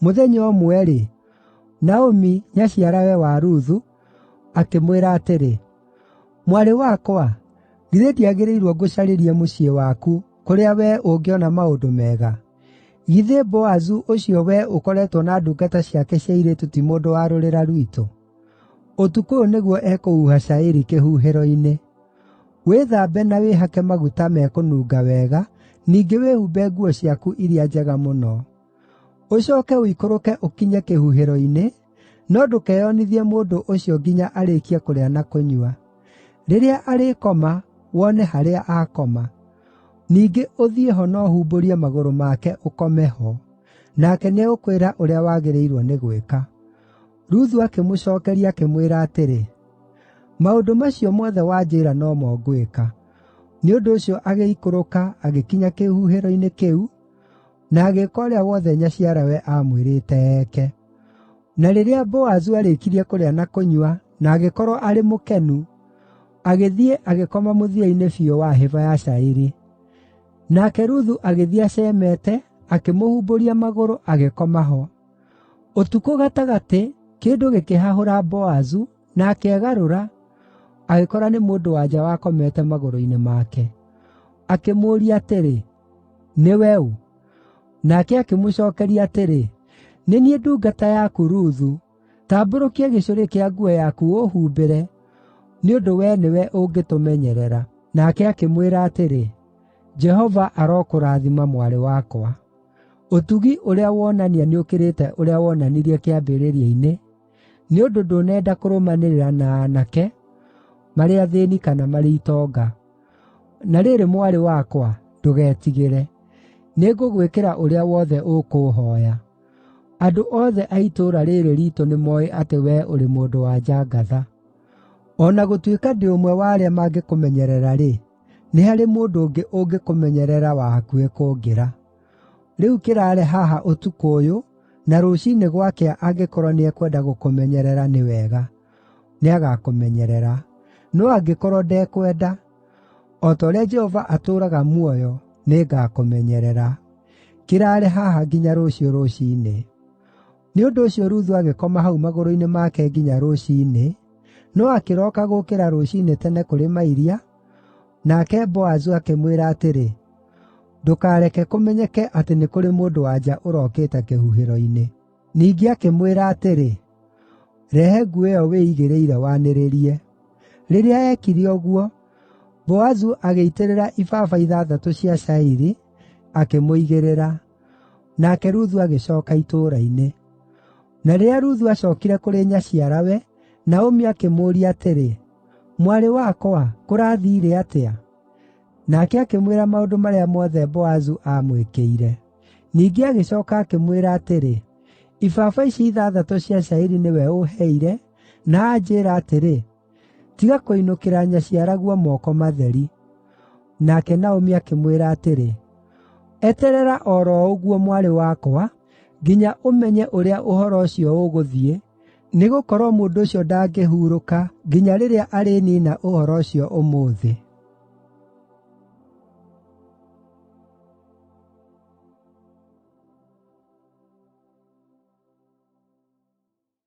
Mũthenya ũmwe-rĩ, Naomi, nyaciarawe wa Ruthu, akĩmwĩra atĩrĩ, “Mwarĩ wakwa, githĩ ndiagĩrĩirwo ngũcarĩrie mũciĩ waku, kũrĩa wee ũngĩona maũndũ mega? Githĩ Boazu ũcio wee ũkoretwo na ndungata ciake cia airĩtu ti mũndũ wa rũrĩra rwitũ? Ũtukũ ũyũ nĩguo ekũhuha cairi kĩhuhĩro-inĩ. Wĩthambe na wĩhake maguta mekũnunga wega, ningĩ wĩhumbe nguo ciaku iria njega mũno. Ũcooke ũikũrũke ũkinye kĩhuhĩro-inĩ, no ndũkeyonithie mũndũ ũcio nginya arĩĩkie kũrĩa na kũnyua. Rĩrĩa arĩkoma, wone harĩa akoma. Ningĩ ũthiĩ ho na ũhumbũrie magũrũ make ũkome ho. Nake nĩegũkwĩra ũrĩa wagĩrĩirwo nĩ gwĩka.” Ruthu akĩmũcookeria, akĩmwĩra atĩrĩ, “Maũndũ macio mothe wanjĩĩra no mo ngwĩka.” Nĩ ũndũ ũcio agĩikũrũka agĩkinya kĩhuhĩro-inĩ kĩu, na agĩĩka ũrĩa wothe nyaciarawe aamwĩrĩte eke. Na rĩrĩa Boazu aarĩkirie kũrĩa na kũnyua, na agĩkorwo arĩ mũkenu, agĩthiĩ agĩkoma mũthia-inĩ biũ wa hĩba ya cairi. Nake Ruthu agĩthiĩ acemete, akĩmũhumbũria magũrũ, agĩkoma ho. Ũtukũ gatagatĩ, kĩndũ gĩkĩhahũra Boazu, na akegarũra, agĩkora nĩ mũndũ-wa-nja wakomete magũrũ-inĩ make. Akĩmũũria atĩrĩ, “Nĩwe ũ?” Nake akĩmũcookeria atĩrĩ, “Nĩ niĩ ndungata yaku Ruthu. Tambũrũkia gĩcũrĩ kĩa nguo yaku ũũhumbĩre, nĩ ũndũ wee nĩwe ũngĩtũmenyerera.” Nake akĩmwĩra atĩrĩ, “Jehova arokũrathima, mwarĩ wakwa.” Ũtugi ũrĩa wonania nĩũkĩrĩte ũrĩa wonanirie kĩambĩrĩria-inĩ, nĩ ũndũ ndũnenda kũrũmanĩrĩra na aanake, marĩ athĩĩni kana marĩ itonga. Na rĩrĩ, mwarĩ wakwa, ndũgetigĩre. Nĩngũgwĩkĩra ũrĩa wothe ũkũũhooya. Andũ othe a itũũra rĩĩrĩ riitũ nĩmooĩ atĩ wee ũrĩ mũndũ-wa-nja ngatha. O na gũtuĩka ndĩ ũmwe wa arĩa mangĩkũmenyerera-rĩ, Nĩ harĩ mũndũ ũngĩ ũngĩkũmenyerera wa hakuhĩ kũngĩra. Rĩu kĩraare haha ũtukũ ũyũ, na rũciinĩ gwakĩa angĩkorwo nĩekwenda gũkũmenyerera nĩ wega, nĩagakũmenyerera. No angĩkorwo ndekwenda, o ta ũrĩa Jehova atũũraga muoyo, nĩngakũmenyerera. Kĩraare haha nginya rũciũ rũciinĩ.” Nĩ ũndũ ũcio Ruthu agĩkoma hau magũrũ-inĩ make nginya rũciinĩ, no akĩroka gũũkĩra rũciinĩ tene kũrĩ mairia, nake Boazu akĩmwĩra atĩrĩ, “Ndũkareke kũmenyeke atĩ nĩ kũrĩ mũndũ-wa-nja ũrokĩte kĩhuhĩro-inĩ.” Ningĩ akĩmwĩra atĩrĩ, “Rehe nguo ĩyo wĩigĩrĩire wanĩrĩrie.” Rĩrĩa eekire ũguo, Boazu agĩitĩrĩra ibaba ithathatũ cia cairi, akĩmũigĩrĩra. Nake Ruthu agĩcooka itũũra-inĩ. Na rĩrĩa Ruthu aacookire kũrĩ nyaciarawe, Naomi akĩmũũria atĩrĩ, “Mwarĩ wakwa, kũrathiire atĩa?” Nake akĩmwĩra maũndũ marĩa mothe Boazu aamwĩkĩire. Ningĩ agĩcooka akĩmwĩra atĩrĩ, “Ibaba ici ithathatũ cia cairi nĩwe ũũheire, na anjĩĩra atĩrĩ, Tiga kũinũkĩra nyaciaraguo moko matheri.” Nake Naomi akĩmwĩra atĩrĩ, “Eterera o ro ũguo, mwarĩ wakwa, nginya ũmenye ũrĩa ũhoro ũcio ũgũthiĩ, nĩgũkorwo mũndũ ũcio ndangĩhurũka nginya rĩrĩa arĩniina ũhoro ũcio ũmũthĩ.”